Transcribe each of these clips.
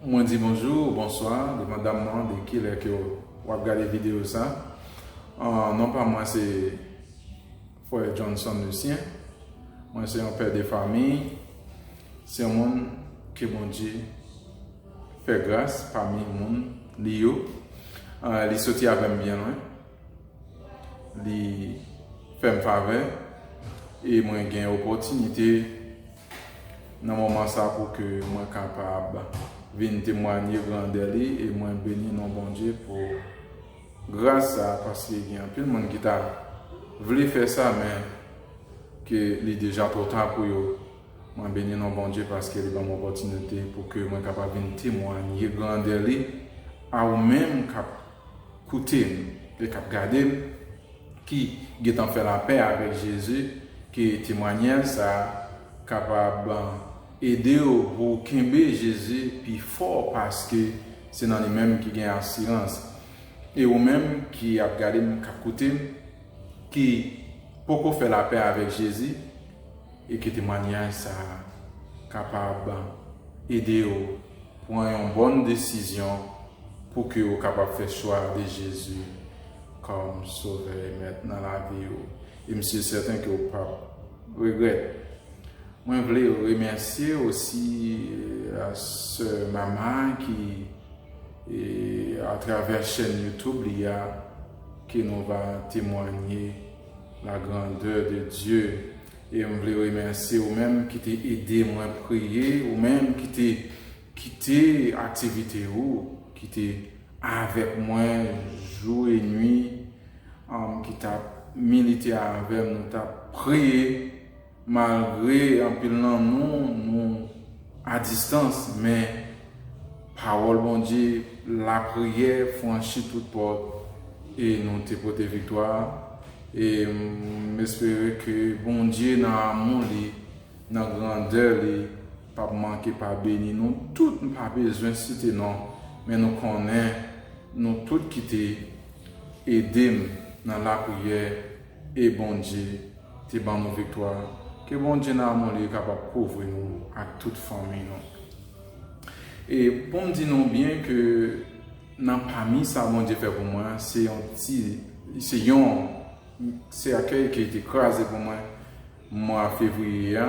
Mwen di bonjou ou bonswa devan dam nan de kilè ke w ap gade videyo sa. Non pa mwen se Frè Johnson Lucien. Mwen se yon pè de fami. Se yon moun ke Bondye fè gras pami moun li yo. Li soti avè m byen lwen. Li fè m favè e mwen gen opòtinite. nan moman sa pou ke mwen kapab vin temwanye grandè li e mwen beni non Bondye pou gras sa paske gen anpil moun ki ta vle fè sa men ke li deja twò ta pou yo mwen beni non Bondye paske li banm opòtinite pou ke mwen kapab vin temwanye grandè li a ou menm kap koutem e kap gadem ki gentan fè lapè avèk Jezi ke temwanyaj sa a kapab ede w pou w kenbe Jezi pi fò paske se nan li menm ki gen asirans. E ou menm ki ap gade m, k ap koute m, ki poko fè lapè avèk Jezi e ke temwanyaj sa a kapab ede w pran yon bòn desizyon pou ke w kapab fè chwa de Jezi. Kòm Sovè e Mèt nan lavi ou, e m si sèten ke ou pap regrèt. Mwen vle remèsye osi sè Mama ki, atravè chèn YouTube li a, ke nou va temwanye la grandè de Dye. E m vle remèsye ou menm ki te ede mwen priye, ou menm ki te Kite aktivite yo ki te avèk mwen jou e nwi, ki t ap milite avè m, nou t ap priye malgre anpil nan nou nou adistans men pawòl Bondye, lapriyè franchi tout pòt e nou te pote viktwa e m espere ke Bondye nan amou li, nan grandè li, Pap manke pa beni nou tout m pa bezwen site non men nou konnen nou tout kite edem nan lapriyè e Bondye te ban nou viktwa ke Bondye nan amou li kapab kouvri nou ak tout fanmiy nou e poum di nou byen ke nan pami sa Bondye fè pou mwen se yon ti se yon sèkèy ki te kraze pou mwen. mwa fevriye a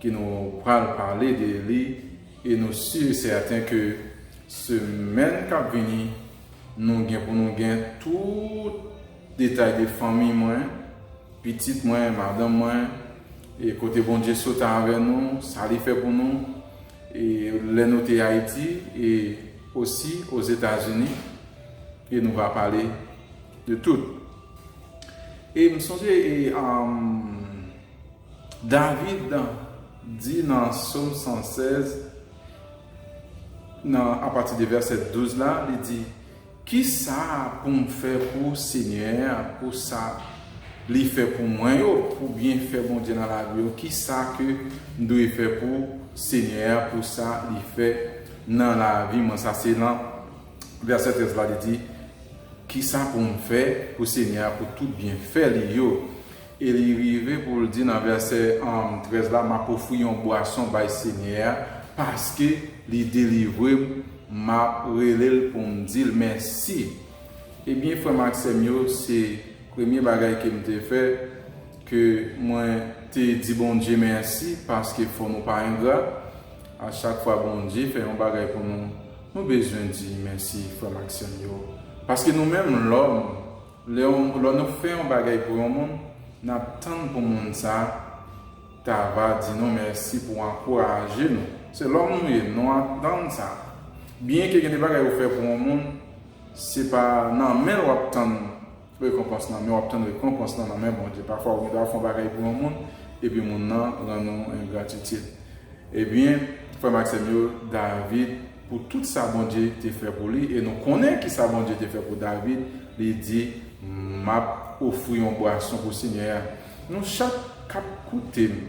ke nou pral pale de li e nou si e sèten ke semèn kap vini nou gen pou nou gen tout detay de fanmiy mwen, pitit mwen, madanm mwen e kote Bondye sot avè nou, sa li fè pou nou e lè nou te Ayiti e osi Ozetazini e nou va pale de tout. E m sonje e David di nan Som 116, nan apati de vèsè 12 la, li di, Ki sa pou m fè pou Senyè a pou sa Li fè pou mwen yo, pou byenfè Bondye nan lavi yo? Ki sa ke m dwe fè pou Senyè a pou sa Li fè nan lavi mwen? Sa se nan. Vèsè 13 la, li di, Kisa pou m fè pou Senyè a pou tout byenfè li yo? E li rive pou l di nan vèsè 13 la, M ap ofri yon bwason bay Senyè a, paske li delivre m, m ap rele l pou m di l mèsi. Ebyen, frè m ak sè m yo, se premye bagay ke m te fè, ke mwen te di Bondye mèsi, paske fò nou pa engra. A chak fwa Bondye fè yon bagay pou nou, Nou bezwen di mèsi frèm ak sèm yo paske nou menm lòm lè yon lò nou fè yon bagay pou yon moun nap tann pou moun sa ta va di nou mèsi pou ankouraje nou se lòm nou ye nou atann sa byen ke gen de bagay ou fè pou yon moun se pa nan menl wap tann Rekonpans nan men w ap tann rekonpans lan nan men Bondye. Pafwa ou gen dwa fè yon bagay pou yon moun epi moun nan rann ou engratitid. Ebyen, frè m ak sè m yo, David, pou tout sa Bondye te fè pou li, e nou konnen ki sa Bondye te fè pou David, li di, M ap ofri yon bwason pou Senyè a. Nou chak k ap koute m,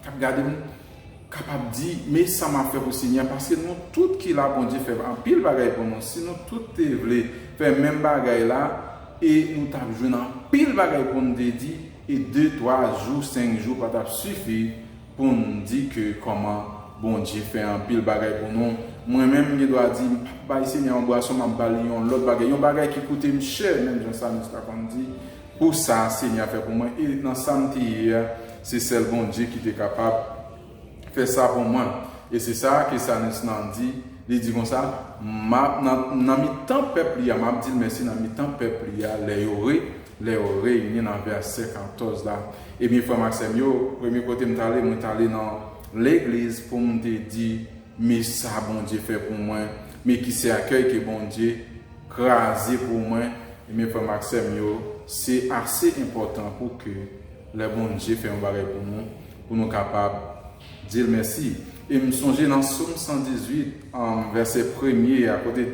k ap gade m, Kapab di, men sa map fè pou Senyè a, paske nou tout ki la Bondye fè anpil bagay pou nou, si nou tout te vle fè menm bagay la e nou tap jwenn anpil bagay poun te di e de twa jou senk jou pa tap sifi poun di ke kòman Bondye fè anpil bagay pou nou, mwen menm m gen dwa di m pap bay Senyè yon bwason map bali yon lòt bagay, yon bagay ki koutem chè menm jan Samus ta konn di. Pou sa Senyè a fè pou mwen e nan sa m te ye a, se sèl Bondye ki te kapab fè sa pou mwen. E se sa ke Salmis lan di, li di konsa, M ap nan mitan pèp li a, m ap di l mèsi nan mitan pèp li a, lè yo re, lè yo reyini nan vèsè 14 la. Ebyen frè m ak sè m yo, premye kote m t ale, mwen t ale nan legliz pou m te di Me sa Bondye fè pou mwen, me ki sèkèy ke Bondye kraze pou mwen, enben frè m ak sè m yo, se ase enpòtan pou ke lè Bondye fè yon bagay pou nou, pou nou kapab di l mèsi. E m sonje nan Som 118, vèsè premye a, kote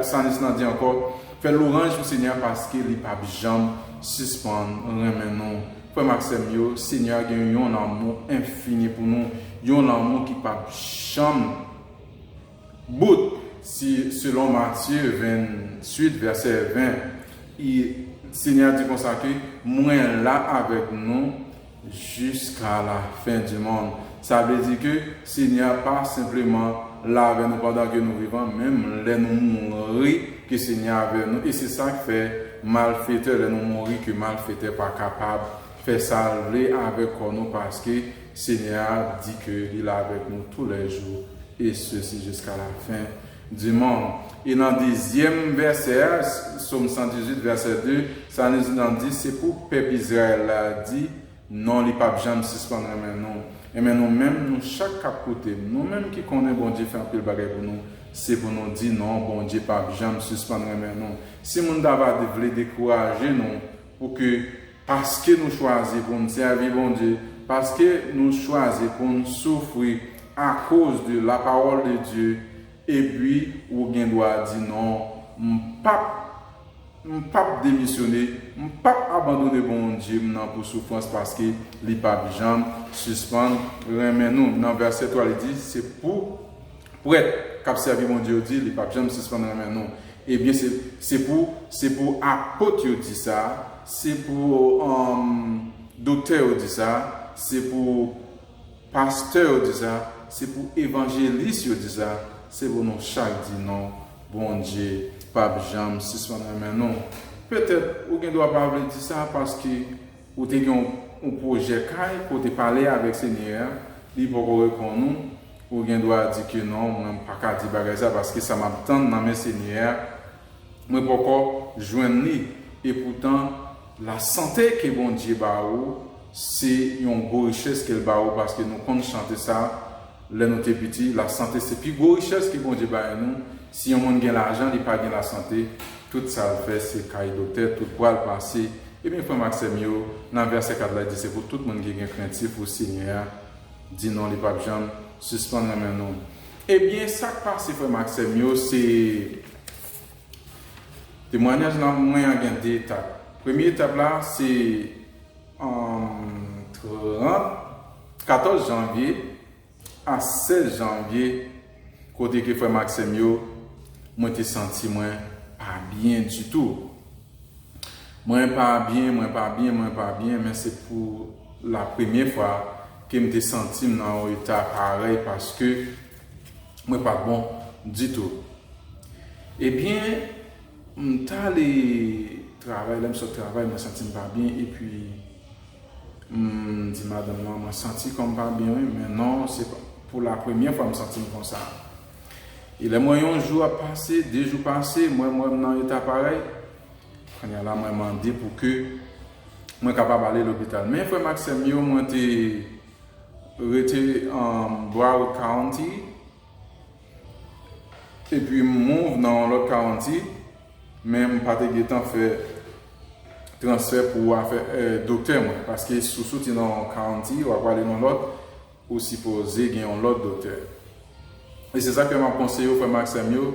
Salis lan di ankò, Fè louranj pou Senyè a paske li p ap janm sispann renmen nou. Frè m ak sè m yo, Senyè a gen yon lanmou enfini pou nou, yon lanmou ki p ap janm bout. Si, selon Matye 28, vèsè 20, I, Senyè a di konsa ke, Mwen la avèk nou jiska lafen dimonn. Sa vle di ke Senyè a pa senpleman la avè nou pandan ke nou vivan, menm lè nou mouri ke Senyè a avè nou, e se sak fè malfetè lè nou mouri ke malfetè pa kapab fè sal vle avèk kò nou paske Senyè a di ke li la avèk nou tou lè jou e sesi jiska la fen di mond. E nan dezyèm vèsè a, Som 118 vèsè 2, sa li nan di se pou pèp Izrayèl la di, Non li pap janm sispann renmen nou Enben nou menm nou chak kap koutem nou menm ki konnen Bondye fè anpil bagay pou nou se pou nou di non Bondye pap janm sispann renmen nou si moun ta va vle dekouraje nou pou ke paske nou chwazi poun sèvi Bondye paske nou chwazi poun soufri akoz de la parole de Dieu epi ou gen dwa di non m pap M pap demisyone, m pap abandone Bondye m nan pou soufrans paske li pap janm sispann renmen nou. Nan vèsè 3 li di se pou prèt k ap sèvi Bondye yo di li pap janm sispann renmen nou. Ebyen se pou se pou apot yo di sa, se pou doktè yo di sa, se pou Pastè yo di sa, se pou evanjelis yo di sa, se pou nou chak di non, Bondye pap janm sispann renmen nou. Petèt ou gen dwa pa vle di sa paske ou te gen yon pwojè kay ke w te pale avèk Senyè a, li poko reponn ou, ou gen dwa di ke non mwen m paka di bagay sa paske sa map tann nan men Senyè a mwen poko jwenn li, epoutan lasante ke Bondye ba ou, Se yon gwo richès ke l ba ou paske nou konn chante sa lè nou te piti, la sante se pi gwo richès ke Bondye bay nou, si yon moun gen lajan li pa gen la sante, tout sa l fè se kay doktè tout pwa l pase, ebyen frè m ak sè m yo, nan vèsè 4 la di se pou tout moun ki gen krentif pou Senyè a, di non li pap janm sispann renmen nou. Ebyen sa k pase frè m ak sè m yo se temwanyaj nan mwen an gen 2 etap, premye etap la se 30, 14 janvye a 16 janvye kote ke frèm ak sèm yo mwen te santi mwen pa byen ditou mwen pa byen mwen pa byen mwen pa byen men se pou la premye fwa kem te santim nan yon eta parèy paske mwen pat bon ditou ebyen M tale travay lèm sot travay mwen santim pa byen epi m di madanm lan mwen santi kòm pa byen wi men non se pou la premyè fwa m santim konsa e lèm wè yon jou ap pase de jou pase m wèm wèm nan eta parèy kounya la mwen mande pou ke mwen kapab ale lopital men frèm ak sèm yo mwen te rete an Broward County. Epi m move nan yon lòt county, men m pa te gentan fè transfè pou afè doktè mwen. Paske si w soti nan yon county, w ap prale nan yon lòt, ou sipoze gen yon lòt doktè. E se sa k fè m ap konseye w frè m ak sè m yo,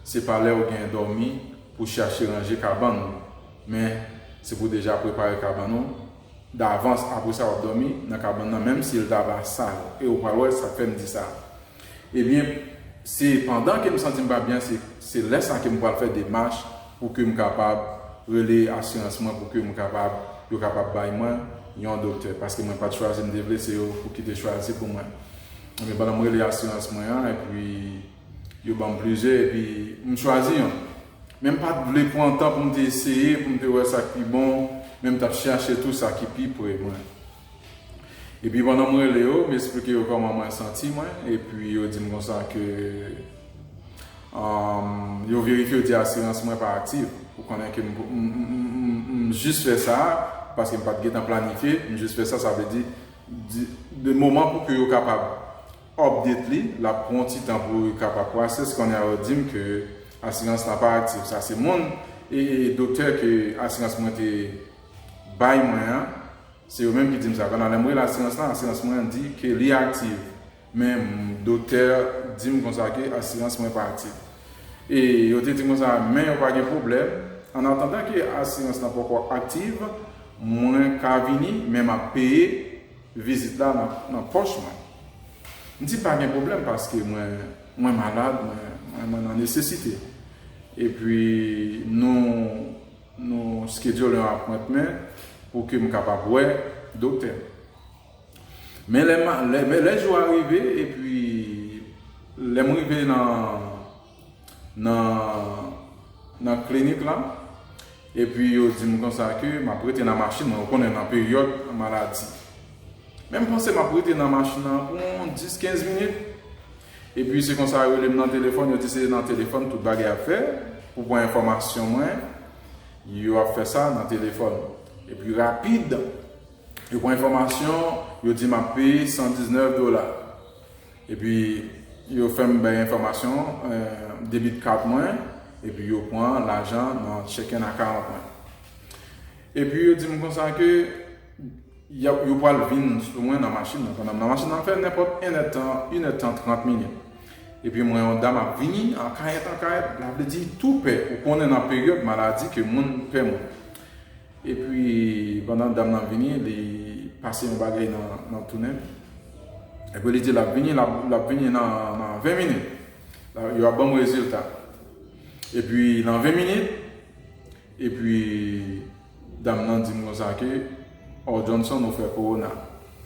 se pa lè ou gen dòmi pou chache ranje kabann ou, men se pou deja prepare kabann ou. davans apresa wap dòmi nan kabann nan menm sil ta va sal e ou pral wè sak fèm di sa ebyen se pandan kem santim pa byen se lè sa kem pral fè demach pou kem kapab rele asirans mwen pou kem kapab yo kapab bay mwen yon doktè paske mwen pat chwazi mte vle se yo pouki te chwazi pou mwen ebyen pandan mrele asirans mwen an epi Yo ban m plizyè epi m chwazi yon. Men m pa t vle pran tan pou m te eseye, pou m te wè sa k pi bon, men m t ap chache tou sa ki pi pre mwen. Epi pandan m rele yo, m esplike yo kòman mwen santi mwen, epi yo di m konsa ke yo verifye yo di asirans mwen pa aktiv. Ou konnen ke m jis fè sa, paske m pa t gen tan planifye, m jis fè sa, sa vle di, de moman pou ke yo kapab Update li, lap pran yon ti tan pou li ka pa process, kounye a yo dim ke asirans la pa aktif, sa se moun e doktè ke asirans mwen te bay mwen an, se yo menm ki dim sa, pandan lèm rele asirans lan, asirans mwen an di ke li aktiv, men doktè dim konsa ke asirans mwen pa aktif, e yo te dim konsa men yo pa gen pwoblèm, an atandan ke asirans lan poko aktiv, mwen ka vini men map peye. Vizit la nan pòch mwen. M di pa gen pwoblèm paske mwen malad, mwen nan nesesite. Epi nou skedyole yon apwentmen pou ke m kapab wè doktè. Men lè jou a rive epi lè m rive nan. nan klinik la epi yo di m konsa ke m ap rete nan machin mwen, ou konnen nan peryòd maladi. Men m panse m ap rete nan machin nan pou yon 10, 15 minit epi se konsa yo rele m nan telefòn, yo di se nan telefòn tout bagay ap fè pou pran enfòmasyon mwen, yo ap fè sa nan telefòn epi rapid yo pran enfòmasyon, yo di m ap peye 119 dola. Epi yo fè m bay enfòmasyon debit card mwen epi yo pran lajan nan checking account mwen. Epi yo di m konsa ke yo pral vin sou mwen nan machin nan pandan m nan machin nan fè nenpòt 1 è tan, 1 è tan 30 minit. Epi m wè yon dam ap vini an kayèt an kayèt, la vle di tou pè, ou konnen nan peryòd maladi ke moun pè moun. Epi pandan dam nan vini li pase yon bagay nan tou nenl. Epi li di lap vini lap vini nan 20 minit yo ap banm rezilta. Epi nan 20 minit epi dam nan dim konsa ke oh Johnson ou fè kowona.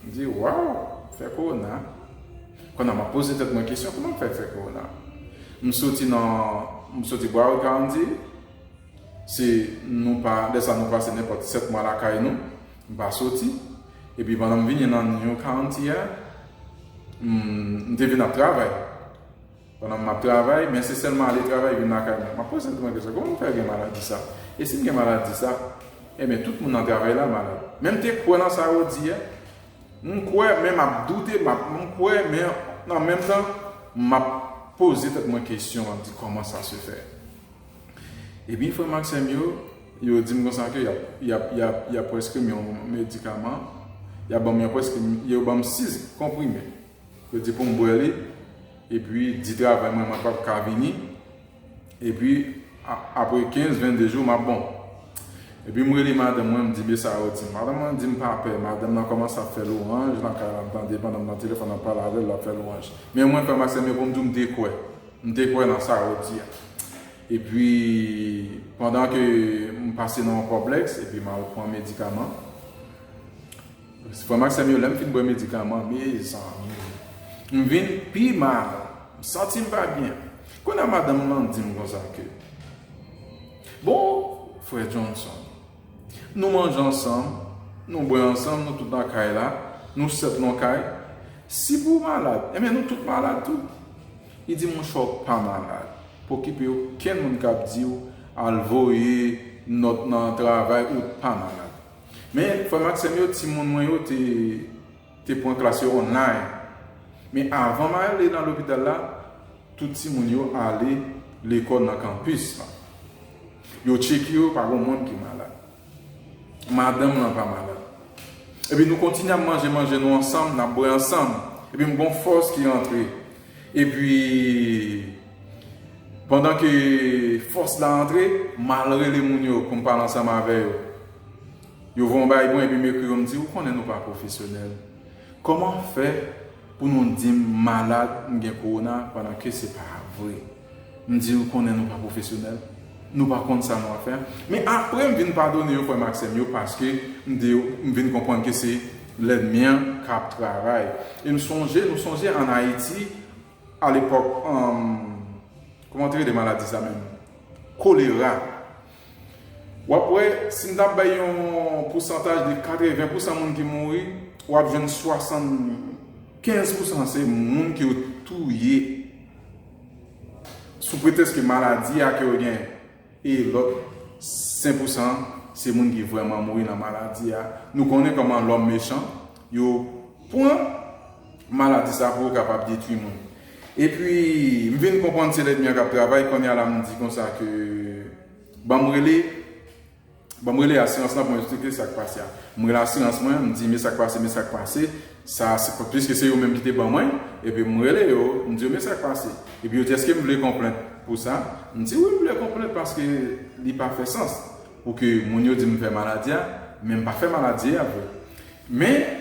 M di waw fè kowona. Kona map poze tèt mwen kesyon kouman m fè fè kowona. M soti nan m soti Broward County. Se nou pa, lè sa nou pase nenpòt 7 mwa lakay nou, m pa soti. Epi pandan m vini nan New County a, m te vin ap travay. Pandan m ap travay, men se sèlman ale travay vin lakay mwen. M ap poze tèt mwen kesyon, kòman m fè gen maladi sa? E si m gen maladi sa? Enben, tout moun nan travay la malad. Men m te kwè nan sa yo di a. M kwè, men m ap doute, m ap, m kwè, men an menm tan, m ap poze tèt mwen kesyon, m ap di, kòman sa se fè? Ebyen frè m ak sè m yo, yo di m konsa ke y ap prèskri m yon medikaman, y ap ban m yon prèskri, yo ban m 6 konprime. Yo di pou m bwè li, epi di travay mwen mwen pa p ka vini, epi apre 15, 22 jou m ap bon. Epi m rele madanm mwen, m di men sa yo di m. Madanm mwen di m pa pè, madanm nan kòmanse ap fè lwanj nan kay la, m tande pandan m nan telefòn ap pale avè l, l ap fè lwanj. Men mwen frè m ak sè m yo, pou m di w m dekwè. M te kwè nan sa ou di a. Epi, pandan ke m pase nan yon kòplèks, epi m al pran medikaman. Frè m ak sè m yo, lè m fin bwè medikaman, mezanmi! M vin pi mal. M santi m pa byen. Kounye a madanm lan di m konsa ke, Bon, frè Johnson, Nou manje ansanm, nou bwè ansanm, nou tout nan kay la, nou sèt nan kay. Si pou ou malad, enben nou tout malad tou. Li di, Monchè ou pa malad. Pa okipe okenn moun k ap di ou al voye nòt nan travay, ou pa malad. Men, frè m ak sè m yo, timoun mwen yo te te pran klas yo online. Men avan m ale nan lopital la, tout timoun yo ale lekòl nan kanpis lan. Yo tcheke yo, pa gen moun ki malad. Madanm lan pa malad. Epi nou kontinye ap manje manje nou ansanm, n ap bwè ansanm. Epi m gen yon fòs ki antre. Epi, pandan ke fòs la antre, m al rele moun yo pou m pale ansanm avè yo. Yo voye yon bagay pou mwen epi m ekri yo m di ou konnen nou pa pwofesyonèl. Kòman fè pou nou di m malad m gen kowona pandan ke se pa vre. M di ou konnen nou pa pwofesyonèl. Nou pa konn sa nou ap fè. Men apre m vin padone yo frè m ak sè m yo paske m di yo m vin konprann ke se lènmi an k ap travay. E m sonje nou sonje an Ayiti alepòk kòman te rele maladi sa menm? Kolera. Wap wè, si m ta bay yon pousantaj de 80 pousan moun ki mouri, wap jwenn 75 pousan se moun ke yo touye sou pretèsk ke maladi a ke yo gen, e lòt 5 pousan se moun ki vrèman mouri nan maladi a. Nou konnen kòman lòm mechan, yo pran. Maladi sa bro kapab detwi moun. Epi m vin konprann se lènmi an kap travay konnya la m di konsa ke banm rele banm rele asirans lan pou m esplike sak pase a. M rele asirans mwen m di men sak pase men sak pase sa pwiske se yo menm ki te ban mwen epi m rele yo m di yo men sak pase epi yo di eske m vle kon plent pou sa m di wi m vle kon plent paske li pa fè sans pou ke moun yo di m fè maladi a men m pa fè maladi a vre men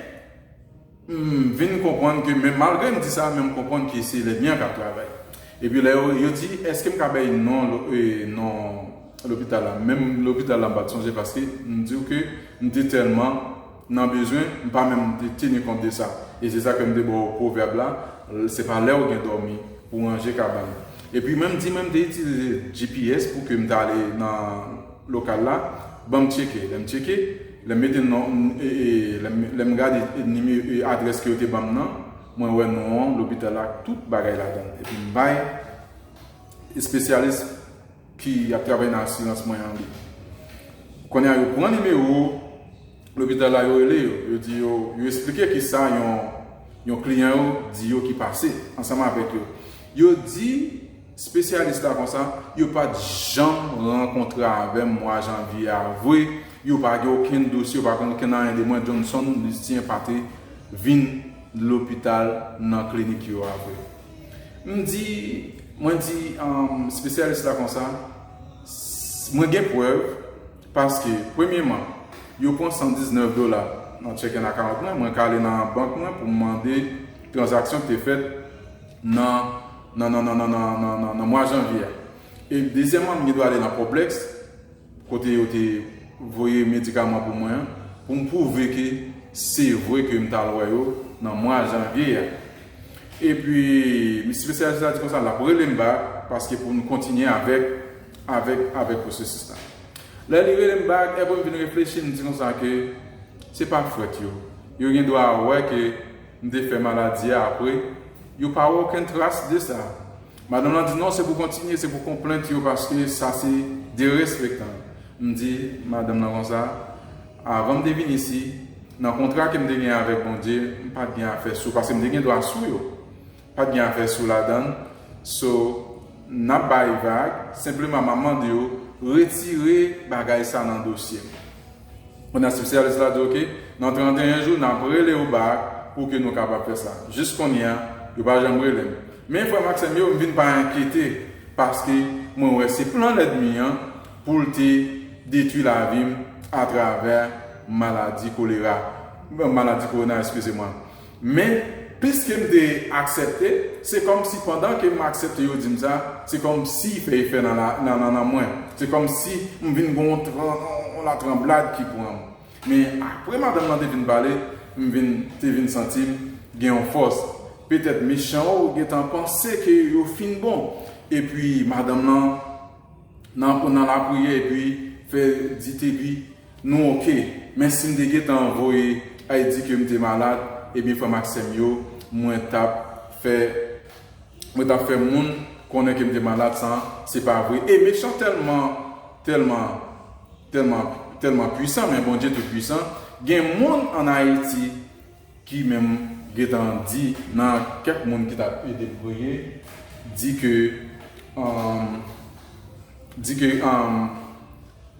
M vin konprann ke men malgre m di sa men m konprann ke se lènmi an k ap travay. Epi lè yo yo di èske m ka bay non non lopital la menm lopital la m pa t sonje paske m di w ke m te tèlman nan bezwen m pa menm te teni kont de sa. E se sa ke m te ba w pwovèb la se pa lè w gen dòmi pou w ranje kabann. Epi mwen m di mwen m te itilize GPS pou ke m ta ale nan. Lokal la, ban m tcheke. Lè m tcheke, lè m mete non, lè m gade adrès ke yo te ban m nan, mwen wè non an, lopital la ak tout bagay ladan l. Epi m bay espesyalis ki ap travay nan asirans mwen an li. Kounye a yo pran nimewo lopital la yo rele yo. Yo di yo, yo esplike ki sa yon kliyan yo di yo ki pase ansanm avèk yo. Yo di. Spesyalis la konsa, yo pat janm rankontre avèm mwa janvye a vre, yo pa gen okenn dosye, yo pa konn okenn anyen de mwen, Johnson Lucien pa te vin lopital nan klinik yo a vre. M di, mwen di spesyalis la konsa, mwen gen prèv paske premyeman, yo pran 119 dola nan checking account mwen, mwen ka ale nan bank mwen pou m mande tranzaksyon ki te fèt nan. nan mwa janvye a. E dezyèman m gen dwa ale nan Poblex kote yo te voye medikaman pou mwen an pou m pwouve ke se vre ke m t al wè yo nan mwa janvye a. E pi m spesyalis la di konsa l ap rele m bak paske pou nou kontinye avèk avèk pwosesis la. Lè li rele m bak epi m vin reflechi m di konsa ke se pa fwèt yo. Yo gen dwa wè ke. M te fè maladi a apre. Yo pa wè okenn tras de sa. Madanm lan di, non se pou kontinye, se pou konplent yo paske sa se derespektan. M di madanm lan konsa, avan m te vin isi, nan kontra ke m te gen avèk Bondye, m pa t gen afè sou paske m te gen dwa sou yo. Pat gen afè sou ladann so nap bay vag senpleman map mande ou retire bagay sa nan dosye mwen an spesyalis la di ok nan 31 jou nap relew back pou ke nou kapab fè sa jis kounye a yo pa janm relem men frèm ak sèm yo m vin pa enkyete paske mwen wè se plan lèdmi an poul te detwi lavim atravè maladi kolera maladi korona eskize mwen. Men, piske m te aksepte, se kòmsi pandan ke m aksepte yo di m sa, se kòmsi fè efè nan nannan mwen. Se kòmsi m vin gen yon latranblad ki pran m. Men, apre madanm nan te fin pale, m vin, te vin santi m gen yon fòs. Petèt mechan yo gentan panse ke yo fin bon. Epi madanm nan. nan ou nan lapriyè epi fè di tebi nou ok men sim te gentan voye ay di kem te malad ebyen frèm ak sèm yo mwen tap fè mwen tap fè moun konnen kem te malad san se pa vre e mechan tèlman tèlman tèlman tèlman pwisan men Bondye tout pwisan gen moun an ayiti ki menm gentan di nan kèk moun ki tap ede l priye di ke di ke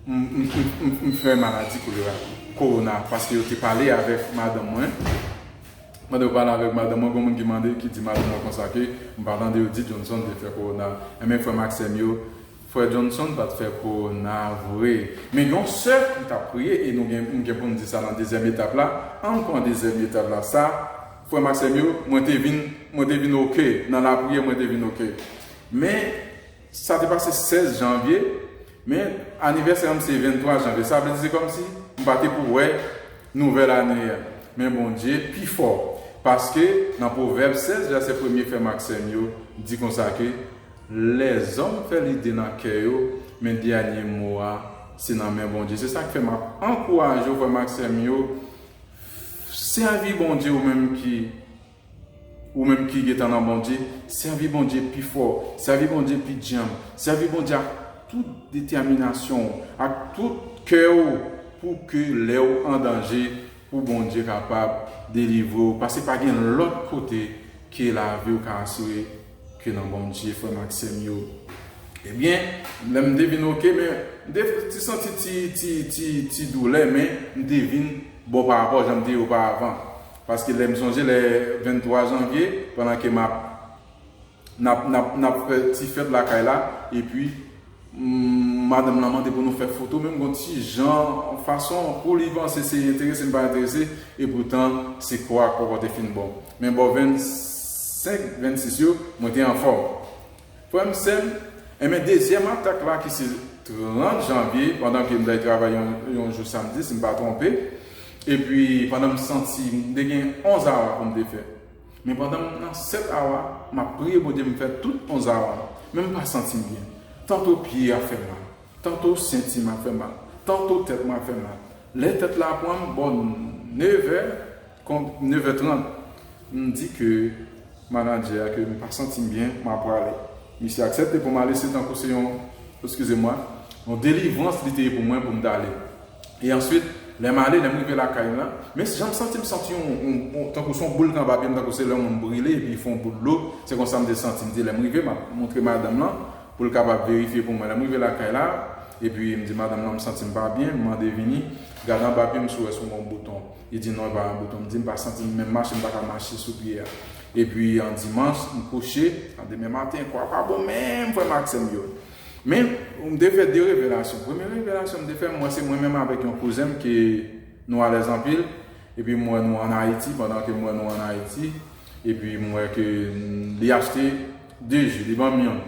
m fè maladi kolera korona paske yo te pale avèk madanm mwen pandan yo pale avèk madanm mwen gen yon moun ki mande ki di madanm mwen konsa ke m pa tande yo di Johnson te fè korona enben frè m ak sè m yo Frè Johnson pat fè kowona vre. Men yon sè li tap priye e nou gen nou gen poun di sa nan dezyèm etap la, ann pran dezyèm etap la sa frèm ak sèm yo mwen te vin mwen te vin ok nan lapriyè mwen te vin ok men sa te pase 16 janvye men anivèsè anm se 23 janvye sa vle di se kòmsi m pa te pou wè nouvèl ane a men Bondye pi fò paske nan pwovèb 16 vèsè premye frèm ak sèm yo di konsa ke Lèzòm fè lide nan kè yo, men dènye mo a se nan men Bondye. Se sa k fè m ap ankouraje w, frè m ak sè m yo, sèvi Bondye ou menm ki ou menm ki gen tan nan Bondye, sèvi Bondye pi fò, sèvi Bondye pi djanm, sèvi Bondye ak tout detèminasyon w, ak tout kè w pou ke lè w an danje pou Bondye kapab delivre w, paske pa gen lòt kote ke lavi w ka asire. Ke nan Bondye frèm ak sèm yo. Ebyen lèm te vin ok men m te ti santi ti ti ti ti doulè men m te vin bon pa rapò janm te ye oparavan paske lèm sonje lè 23 janvye pandan ke map nap nap nap fè ti fèt lakay la epi Madanm lan mande pou nou fè foto men m gon ti jan fason pou li panse se enterese m pa enterese e poutan se kò ak kò kò te fin bon. Men bò 25, 26 yo mwen te anfòm. Frè m sè m, enben dezyèm atak la ki se 30 janvye pandan ke m dèy travay yon jou samdi si m pa twonpe epi pandan m santi m te gen 11 awa pou m te fè. Men pandan m nan 7 awa, m ap priye Bondye m fè tout 11 awa, men m pa santi m byen. Tanto pye a fè mal, tanto senti m ap fè mal, tanto tèt mwen ap fè mal. Lè tèt la pran m bò 9 è, konb 9 è 30, m di ke manadjè a ke m pa santi m byen, m a prale. Misye aksepte pou m ale se tankou se yon, eskize mwa, yon delivrans li te ye pou mwen pou m t ale. E answit, lè m ale, lè m rive lakay m la, men jan m santi m santi yon, tankou se yon boul k anba pye m, tankou se lè yon moun brile epi fè yon boul dlo, se konsa m te santi m. Di lè m rive, m ap montre madanm lan pou l kapab verifye pou mwen. Lè m rive lakay la, epi m di madanm lan m santi m pa byen, m mande Vini, gade anba pye m si w wè si w gen yon bouton. Li di non, li pa gen bouton. M di m pa santi m menm mache, m pa ka mache sou pye a. Epi yon dimanch, m kouche. Nan demen maten, kò a pa bon menm frè m ak sè m yo. Men, m te fè de revelasyon. Premye revelasyon m te fè, m wè se mwen menm avèk yon kouzen m ke nou alèz anpil, epi m wè nou an Ayiti, pandan ke m wè nou an Ayiti, epi m wè ke li achte de ji, li ban m yon.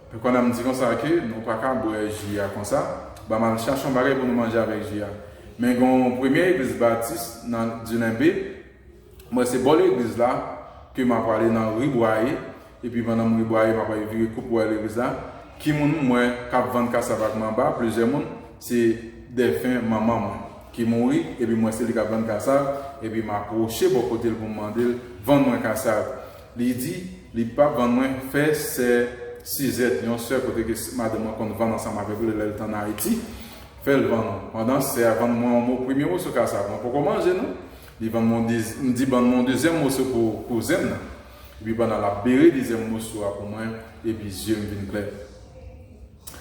Epi pandan m di konsa ke nou pa ka bwè ji a konsa, ba m al chache yon bagay pou nou manje avèk ji a. Men gen yon premye eglise Baptiste nan Dulembe, Mwen se bò legliz la ke ma prale nan ri Bwaye, epi pandan m ri Bwaye ma prale vire kou pou al legliz la, ki moun m wè kap vann kasav ak manba, plizyè moun, se dèfen manman mwen, ki mouri, epi m wè se li kap vann kasav, epi ma pwoche bò kote l pou m mande l vann mwen kasav, li di li pap vann mwen, fè sè Sizèt, yon sè kote ke madanm mwen konn vann ansanm avèk li lè li t an Ayiti, fè l vann, pandan sè a vann mwen yon mo premye moso kasav, mwen poko manje non, Li ban mwen yon, m di ban mwen yon dezyèm moso pou pou zen m nan. Epi pandan l ap bere dezyèm moso a pou mwen, epi zye m vin klè.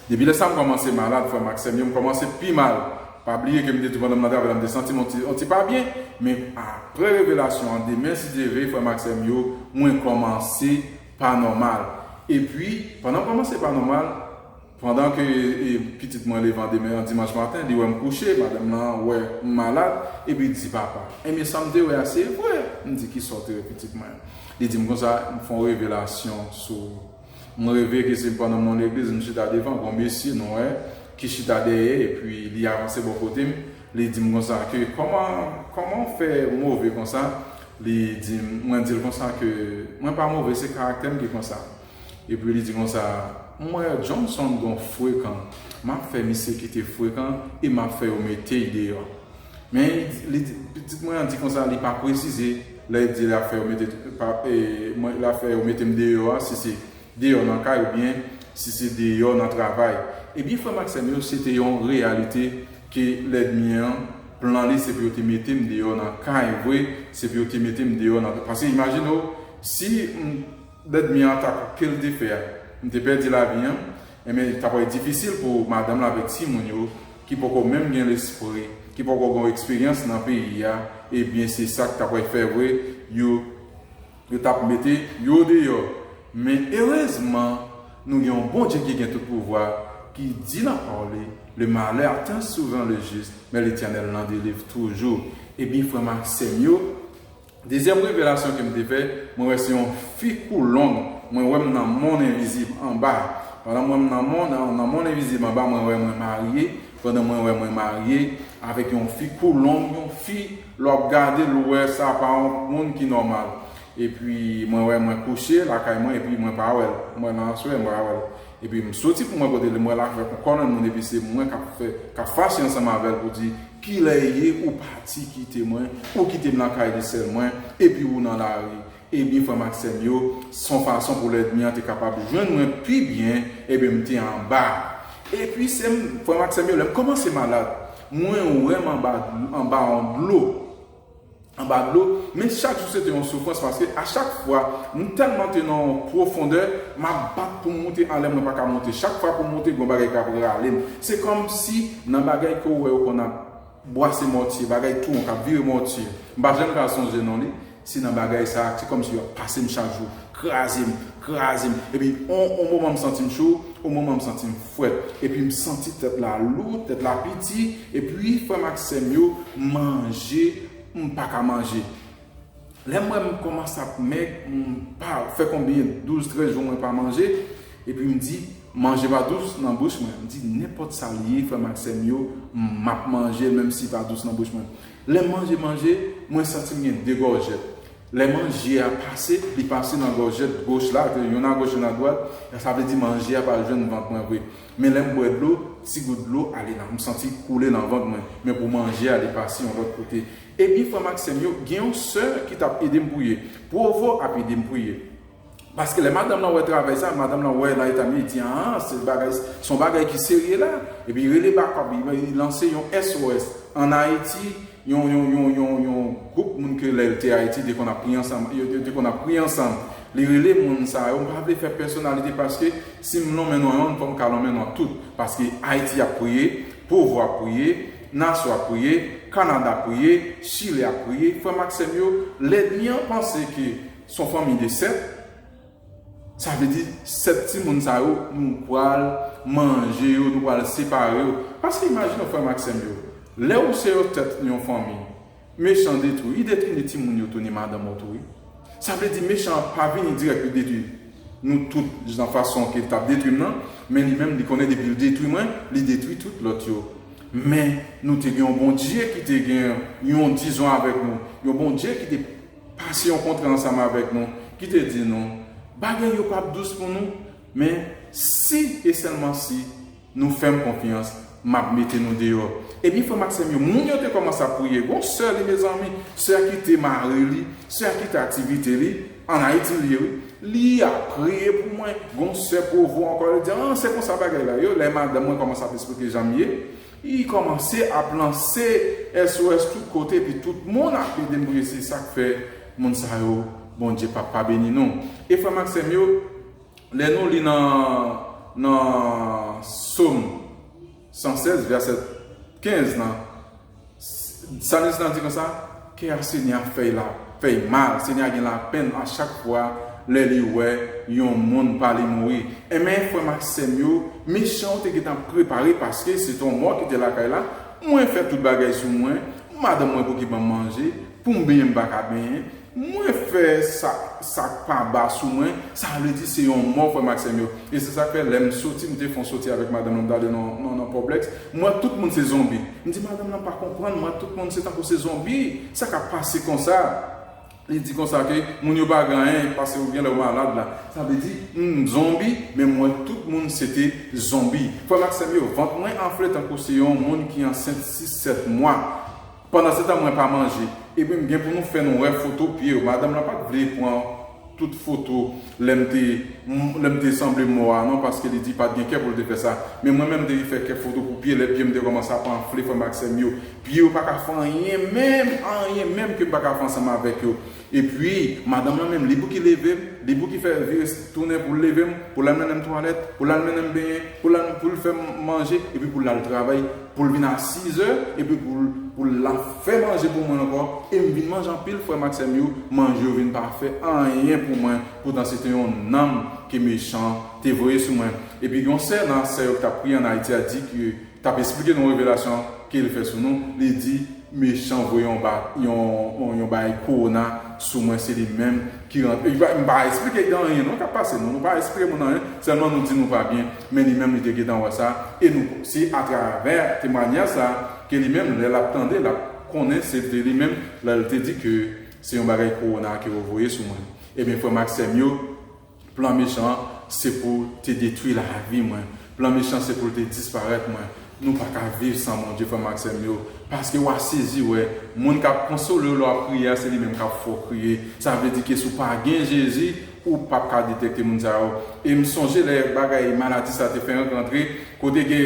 Depi lè sa m kòmanse malad frè m ak sè m yo, m kòmanse pi mal. Pa bliye ke m te di w pandan m nan travay la m te santi m yon ti yon ti pa byen, men aprè revelasyon an demen si Dye ve frè m ak sè m yo, mwen kòmanse pa nòmal. Epi pandan m kòmanse pa nòmal, Pandan ke pitit mwen levan demen an dimanch maten, li wè m kouche, madanm lan wè m malad, epi l di, Papa, enben sa m te wè a se vre! M di, Kisa w te wè, pitit mwen? Li di m konsa, M fè yon revelasyon sou ou. M reve ke se pandan m nan yon legliz, m chita devan, gen yon mesye nwè ki chita dèyè, epi li avanse bò kote m, li di m konsa ke, Kòman, kòman w fè move konsa? Li di m, mwen di l konsa ke, Mwen pa move, se karaktè m ki konsa. Epi li di konsa, M wè Johnson gon frekan, m ap fè misye kite frekan e m ap fè yo mete y deyò. Men, li di, pitit mwen an di konsa li pa presize lè l di l ap fè yo mete, l ap fè yo mete m deyò a, si se deyò nan kay oubyen si se deyò nan travay. Ebyen frè m ak sè m yo, se te yon reyalite ke lèdmi an, plan li se pou yo te mete m deyò nan kay vre, se pou yo te mete m deyò nan, paske imajine w, si m. Bèt mi an ta koupe l te fè a m te pèdi lavi an enben li ta pral difisil pou madanm la avèk timoun yo ki poko menm gen lespri ki poko gon eksperyans nan peyi a ebyen se sa k ta pral fè vre yo yo t ap mete yo deyò men erezman nou gen yon Bondye ki gen tout pouvwa ki di nan pawòl li le malè aten souvan le jis men letènèl nan delivr toujou ebyen frè m ak sè m yo Dezyèm revelasyon kem te fè, mwen wè se yon fi kou long, mwen wèm nan mond envizib anba, pandan mwen nan mond nan mond envizib anba mwen wè mwen marye, pandan mwen wè mwen marye avèk yon fi kou long, yon fi lè wap gadel ou wè sa pa yon moun ki nòmal, epi mwen wè mwen kouche lakay mwen epi mwen pa wèl, mwen nan aswè mwen pa wèl. Epi m soti pou mwen kote li, m wè l avèk yon kòlonn moun epi se mwen k ap fè, k ap fache ansanm avè l pou di, Kilè e ye ou pati kite mwen, ou kite m lakay li sèl mwen, epi ou nan lari? Ebyen frè m ak sè m yo, s on fason pou lèdmi an te kapab jwenn mwen pi byen, ebyen m te anba. Epi se m, frè m ak sè m yo, lè m kòmanse malad, mwen wè m anba, anba yon dlo. anba dlo, men chak jou se te yon soufrans paske a chak fwa m tèlman te nan yon pwofondè, m ap bat pou m moute anlè mwen pa ka moute. Chak fwa pou m moute gon bagay k ap rale m. Se kòm si nan bagay ke w wè yo konn ap bwase mòtye, bagay tou won k ap vire mòtye, m pa janm ka sonje non li, se nan bagay sa a, se kòm si yo ap pase m chak jou. kraze m, kraze m epi on on moman m santi m cho, on moman m santi m frèt epi m santi tèt la lou, tèt la piti epi frè m ak sè m yo manje m pa ka manje lè m wè m kòmanse ap mèg m pa fè konbyen douz trèz jou mwen pa manje epi m di manje pa dous nan bouch mwen m di nenpòt sa l ye frè m ak sè m yo m ap manje l menm si pa dous nan bouch mwen lè m manje manje mwen santi m gen de gòjèt. Lè manje a pase, li pase nan gòjèt goch la, ke yonn agoch yonn adwat, sa vle di manje a pral jwenn vant mwen vre. Men lè m bwè dlo, ti gout dlo ale nan, m santi l koule nan vant mwen. Men pou manje a, li pase yon lòt kote. Epi frè m ak sè m yo, gen yon sè ki t ap ede m priye. Provo ap ede m priye. Paske lè madanm lan wè travay sa, madanm lan wè nan eta miye di aan se bagay son bagay ki serye la, epi rele bakòp li li lanse yon SOS an ayiti yon yon yon yon yon gwoup moun ke lè l te ayiti te konn ap priye ansanm yo yo te konn ap priye ansanm li rele moun sa yo m pa vle fè pèsonalite paske si m lonmen non yonn fò m ka lonmen non tout paske ayiti ap priye povo ap priye naso ap priye kanada ap priye chile ap priye frè m ak sè m yo lèdmi an panse ke Son fanmi de 7, sa vle di 7 timoun sa yo nou pral manje yo, nou pral separe yo. Paske imajine yo frèm ak sèm yo, lè ou se yon tèt yon fanmi, mechan detwi, li detwi ni timoun yo tou ni madanm ou tou wi. Sa vle di mechan an pa vini dirèk pou l detwi nou tout nan fason ke l t ap detwi m nan, men li menm li konnen depi l detwi mwen, li detwi tout lòt yo. Men nou te gen yon Bondye ki te gen yon dizon avèk nou, yon Bondye ki te. Pasyon kontre ansanm avèk nou, ki te di nou, Bagay yo pap dous pou nou, men, si, e sèlman si, nou fè m konfyans, m ap mete nou deyò. Ebyen, frè m ak sè m yo, moun yo te kòmanse ap priye. Gon sè li, mezanmi, sè a kite mari li, sè a kite aktivite li, ann Ayiti l ye wi, li ap priye pou mwen. Gon sè Provo ankò, li di, an, se konsa bagay la ye. Lè madanm mwen kòmanse ap esplike jan m ye, Li kòmanse ap lanse SOS tout kote epi tout moun ap ede m priye se sak fè moun sa yo Bondye pap pa beni nou e frè m ak sè m yo lè nou li nan nan Psaume 116 verset 15 nan Psalmiste lan di konsa. Kè a Senyè a fèy la fèy mal Senyè a gen lapèn a chak fwa lè li wè yon moun pa li mouri enben frèm ak sèm yo misyon te gentan prepare paske se ton mò ki te lakay la mwen fè tout bagay sou mwen madanm mwen pouki banm manje poum benyen m paka benyen mwen fè sa sak pa ba sou mwen sa vle di se yon mò frèm ak sèm yo e se sak fè lèm soti m te fon soti avèk madanm lan m t ale nan nan poblèks m wè tout moun se zonbi. M di madanm lan pa konprann mwen, tout moun se tankou se zonbi, sa k ap pase konsa? Li di konsa ke moun yo pa gen anyen pase yo gen lè yo malad la. Sa vle di m zonbi, men m wè tout moun se te zonbi. Frè m ak sè m yo, vant mwen anfle tankou se yon moun ki ansent 6, 7 mwa. Pandansetan mwen pa manje. Epi m gen pou nou fè nou wè foto pye yo. Madanm lan pa t vle pran. tout foto lèm te lèm te sanble mò a non paske li di pat gen kè poul te fè sa men mwen menm depi fè kèk foto pou pye lè pyem te kòmanse ap anfle frèm ak sèm yo pye yo paka fè anyen menm anyen menm kem paka fè ansanm avèk yo epi madanm lan menm li pouki levem li pouki fè vire tounen poul levem poul al mennenm twalèt poul al mennenm benyen poul al poul fèm manje epi poul al travay Pou l vin a sizè, epi pou l la fè manje pou mwen ankò, e m vin manje anpil, frè m ak sè m yo, manje yo vin pa fè anyen pou mwen, poutan se te yon nanm ke mechan an te voye sou mwen. Epi gen yon sè nan sè yo ki t ap priye an Ayiti a di ke, t ap esplike nou revelasyon ke l fè sou nou, li di, Mechan voye yon ba yon yon bagay corona sou mwen se li menm ki rantre li pa nou pa esplike gen anyen non kap pase nou nou pa esplike moun anyen sèlman nou di nou pa byen men li menm li te gentan wè sa e nou se atravè temwanyaj sa ke li menm lè lap tande lap konnen se te li menm lèl te di ke se yon bagay corona ke yo voye sou mwen ebyen frèm ak sèm yo Plan mechan an se pou te detwi lavi mwen plan mechan se poul te disparèt mwen nou paka viv san Bondye frèm ak sèm yo paske wa sezi wè moun kap konsolew lè wap kriye a se li menm kap fè w kriye sa vle di ke si w pa gen Jezi ou pap ka detèkte moun sa yo em sonje lè bagay maladi sa te fenk rantre kote ke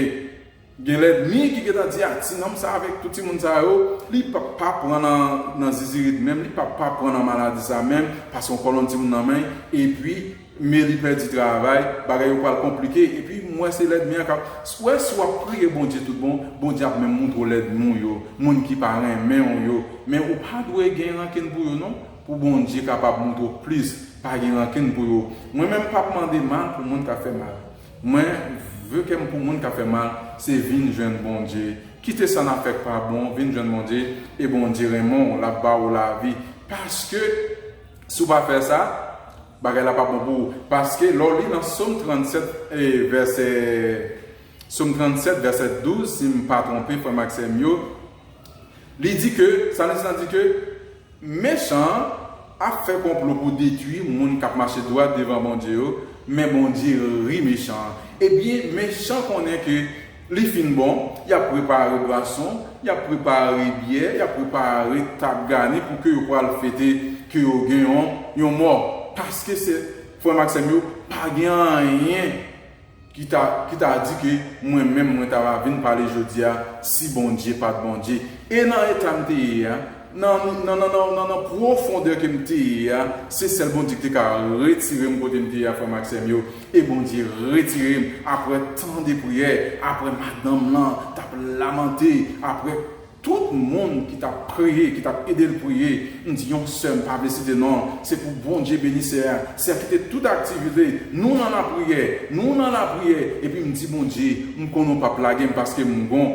Gen lèdmi ki gentan di ah ti nonm sa avèk tout timoun sa yo li pap pa pran nan zizirit menm li pap pa pran nan maladi sa menm paske yon kòlonn timoun nan menl epi me li pèdi travay bagay yo pral konplike epi m wè se lèdmi an kap ou wè si wap priye Bondye tout bon Bondye ap menm moutre w lèdmi w yo moun ki pa renmen w yo men ou pa dwe gen rankin pou yo non pou Bondye kapab moutre w plis pa gen rankin pou yo mwen menm pap mande mal pou moun kap fè mal. Mwen ve kèm pou moun kap fè mal se vin jwenn Bondye kite sa nap fè k pa bon vin jwenn Bondye e Bondye renmen w lap ba ou lavi paske si w pa fè sa bagay la pap bon pou ou paske lè w li nan som 37 vèsè som 37 vèsè 12 sim pa twonpe frè m ak sè m yo li di ke salmis lan di ke Mechan an ap fè konplo pou detwi moun kap mache dwat devan Bondye yo, men Bondye ri mechan an. Ebyen mechan konnen ke li fin bon, yap prepare bwason, yap prepare byè, yap prepare tab gani pou ke yo pwal fete ke yo gen yon mò. Paske se, frè m ak sè m yo, pa gen anyen. Ki ta ki ta di ke mwen menm mwen ta va vin pale jodi a si Bondye pat Bondye? E nan eta m te ye a, nan nan nan nan nan nan pwofondè ke m te ye a, se sèl Bondye ki te ka retire m kote m te ye a frè m ak sè m yo, e Bondye retire m apre tan de priyè, apre madanm lan t ap lamante, apre. Tout moun ki tap priye ki tap edel priye m di yon sè m pa vle site non l se pou Bondye beni sè a sè ki te tout aktiv li te nou nan lapriyè nou nan lapriyè epi m di Bondye m konnen w pap lage m paske m gon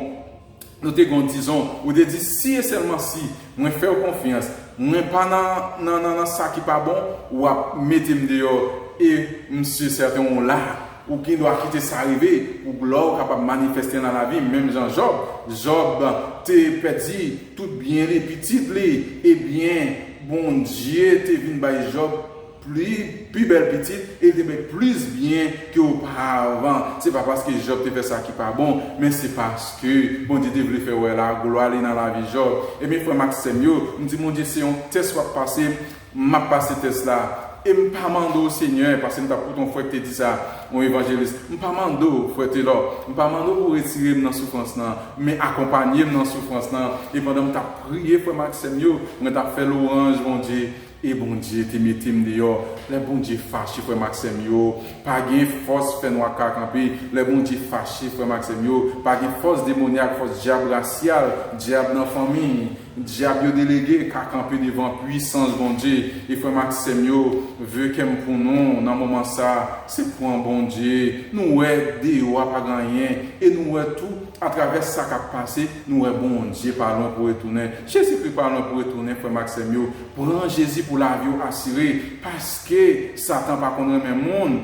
nou te gon dizon ou te di si e sèlman si mwen fè w konfyans mwen pa nan nan nan sa ki pa bon wap mete m deyò e m si e sèten w la. Ou gen dwa kite sa rive pou glwa w kapab manifèste nan lavi m menm jan Jòb. Jòb te pèdi tout byen li, pitit li, ebyen Bondye te vin bay Jòb pi bèl pitit e li te bay plis byen ke oparavan. Se pa paske Jòb te fè sa ki pa bon, men se paske Bondye te vle fè wè la glwa li nan lavi Jòb. Ebyen frè m ak sè m yo, m di Bondye se yon tès w ap pase M ap pase tès la e m pa mande w Senyè, pase m t ap koute yon frè k te di sa, yon evanjelis, m pa mande w, Frè Taylor, m pa mande w pou w retire m nan soufrans lan, men akonpanye m nan soufrans lan. E pandan m t ap priye frè m ak sè m yo, mwen t ap fè lwanj Bondye, e Bondye te mete m deyò. Lè Bondye fache frè m ak sè m yo, pa gen fòs fènwa ka kanpe. Lè Bondye fache frè m ak sè m yo, pa gen fòs demonyak, fòs dyab rasyal, dyab nan fanmi, Dyab yo delege ka kanpe devan pwisans Bondye e frèm ak sèm yo ve kèm pou nou nan moman sa se pwan Bondye nou wè deyo a pagen anyen e nou wè tou atravè sa kap pase nou wè Bondye pa lwen pou retounen Jezi kri pa lwen pou retounen frèm ak sèm yo pran Jezi pou laviw asire paske satan pa konn renmen moun.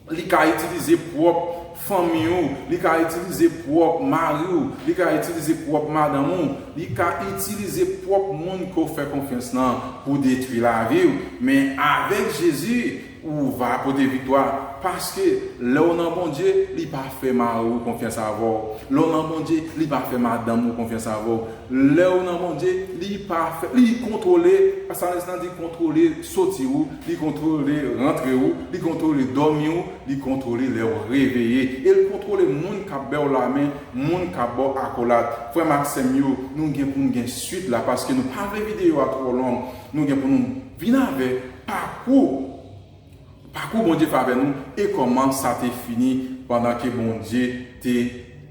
Li ka itilize pwòp fanmi ou, li ka itilize pwòp mari ou, li ka itilize pwòp madanm ou, li ka itilize pwòp moun ke w fè konfyans lan pou detwi lavi w, men avèk Jezi ou va pote viktwa, paske lè w nan Bondye li pa fè mari w konfyans avè w, lè w nan Bondye li pa fè madanm ou konfyans avè w, lè w nan Bondye li pa fè, li kontwole, psalmiste lan di kontwole soti ou, Li kontwole rantre ou, li kontwole dòmi ou, li kontwole lè ou reveye, e l kontwole moun k ap ba w lamen, moun k ap ba w akolad. Frè m ak sè m yo, nou gen pou n gen suit la paske nou pa vle videyo a twò long. Nou gen pou nou vin avèk pakou pakou Bondye fè avè nou e kòman sa te fini pandan ke Bondye te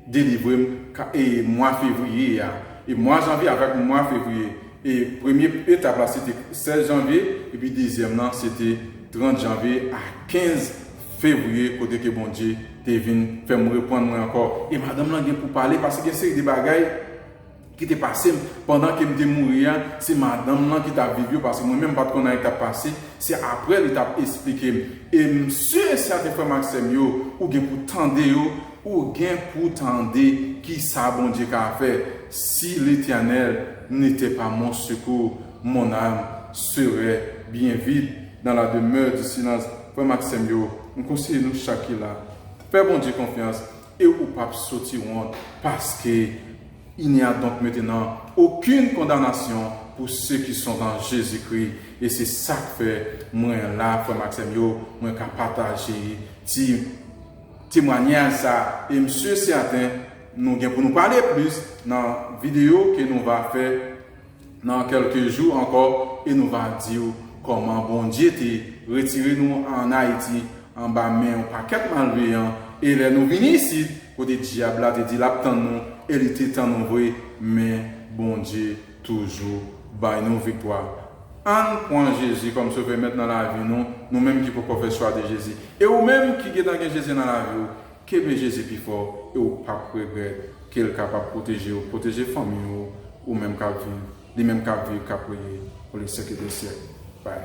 delivre m e mwa fevriye a e mwa janvye avèk mwa fevriye E premye etap la se te 16 janvye epi dezyèm lan se te 30 janvye a 15 fevriye kote ke Bondye te vin fè m reprann mwen ankò. E madanm lan gen pou pale paske gen seri de bagay ki te pase m pandan ke m te mouri a, se madanm lan ki t ap viv yo paske mwen menm m pa t konn anyen k t ap pase, se aprè li t ap esplike m. E m si e sèten frè m ak sè m yo, ou gen pou tande yo Ou gen pou tande ki sa Bondye ka fè si Letènèl ne t'es pas mon secours, mon âme serait bien vide dans la demeure du silence Frè m ak sè m yo, m konseye nou chak ki la, fè Bondye konfyans e ou pap soti wont paske Il n'y a donc maintenant aucune condamnation pour ceux qui sont en Jésus-Christ e se sak fè mwen la frè m ak sè m yo, mwen ka pataje ti. temwanyaj sa e m sur certain nou gen pou nou pale plus nan video ke nou va fè nan kelke jou ankò e nou va diw kòman Bondye te retire nou an Ayiti anba men yon pakèt malveyan e lè nou vini isit kote dyab la te di lap tann nou e li te tann nou vre men Bondye toujou bay nou viktwa Ann pwan Jezi kòm sovè mèt nan lavi nou Nou menm ki poko fè chwa de Jezi e ou menm ki gentan gen Jezi nan laviw kenbe Jezi pi fò e ou pap regrèt kel kapab pwotejew pwoteje fanmiy ou ou menm kap viv li menm kap viv kap reye pou le syècle de syècle bye.